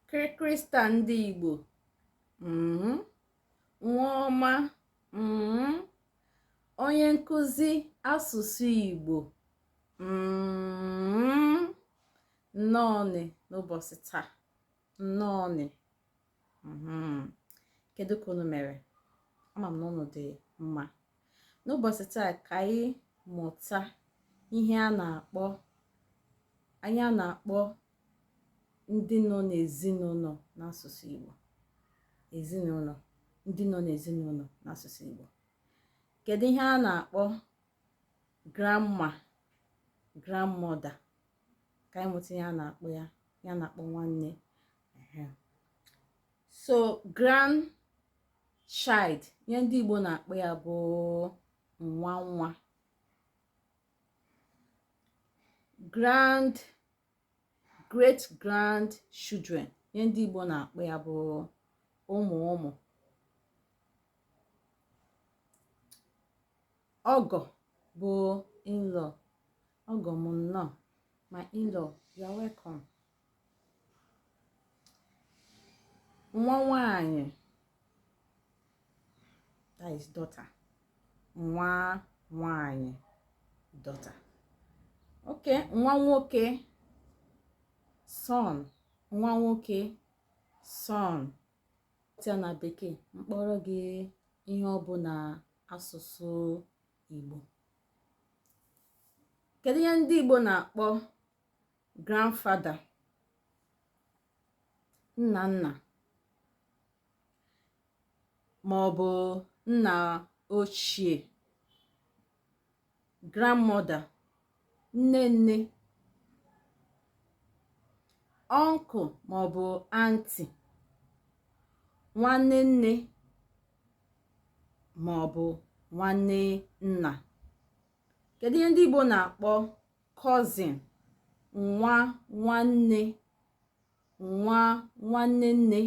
krịkrịsta ndị igbo mm-hmm. nwa ọma mm-hmm. onye nkụzi asụsụ igbo mm-hmm. nnọọnị n'ụbọchị taa nnọọnị kedu ka unu mere ama m na unu dị mma n'ụbọchị taa ka anyị mụta ihe a na-akpọ ihe a na-akpọ ndị nọ n'ezinụlọ n'asụsụ Igbo ezinụlọ ndị nọ n'ezinụlọ n'asụsụ Igbo kedu ihe a na-akpọ grandma grandmother ka anyị mụta ihe a na-akpọ ya ihe a na-akpọ nwanne so grandchild ihe ndị Igbo na-akpọ ya bụ nwa nwa grand great grandchildren ihe ndị Igbo na-akpọ ya bụ ụmụ ụmụ ọgọ bụ in-law ọgọ m nnọọ my in-law you are welcome nwa nwanyị that is daughter nwa nwanyị daughter okay nwa nwoke son nwa nwoke son tia na bekee m kpọọrọ gị ihe ọ bụ n'asụsụ Igbo kedu ihe ndị Igbo na-akpọ grandfather nna nna ma ọ bụ nna ochie grandmother nne nne uncle ma ọ bụ aunty nwanne nne ma ọ bụ nwanne nna kedu ihe ndị Igbo na-akpọ cousin nwa nwanne nwa nwanne nne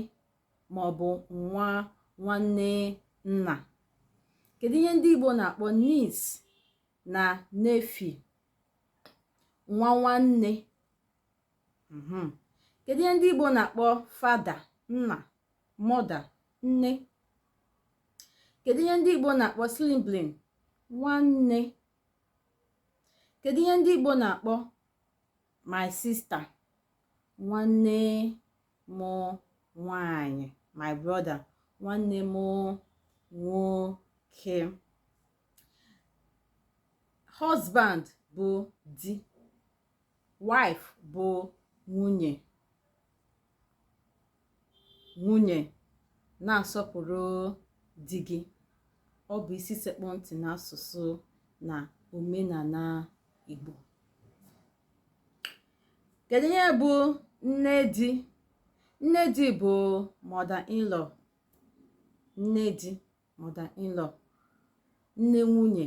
ma ọ bụ nwa nwanne nna kedu ihe ndị Igbo na-akpọ niece na nephew nwa nwanne mhm. kedu ihe ndị Igbo na-akpọ father nna mother nne kedu ihe ndị Igbo na-akpọ sibling nwanne kedu ihe ndị Igbo na-akpọ my sister nwanne m nwanyị my brother nwanne m nwoke husband bụ di wife bụ nwunye nwunye na-asọpụrụ di gị ọ bụ isi sekpụ ntị n'asụsụ na omenala Igbo kedu ihe bụ nne di nne di bụ mother in law nne di mother in law nne nwunye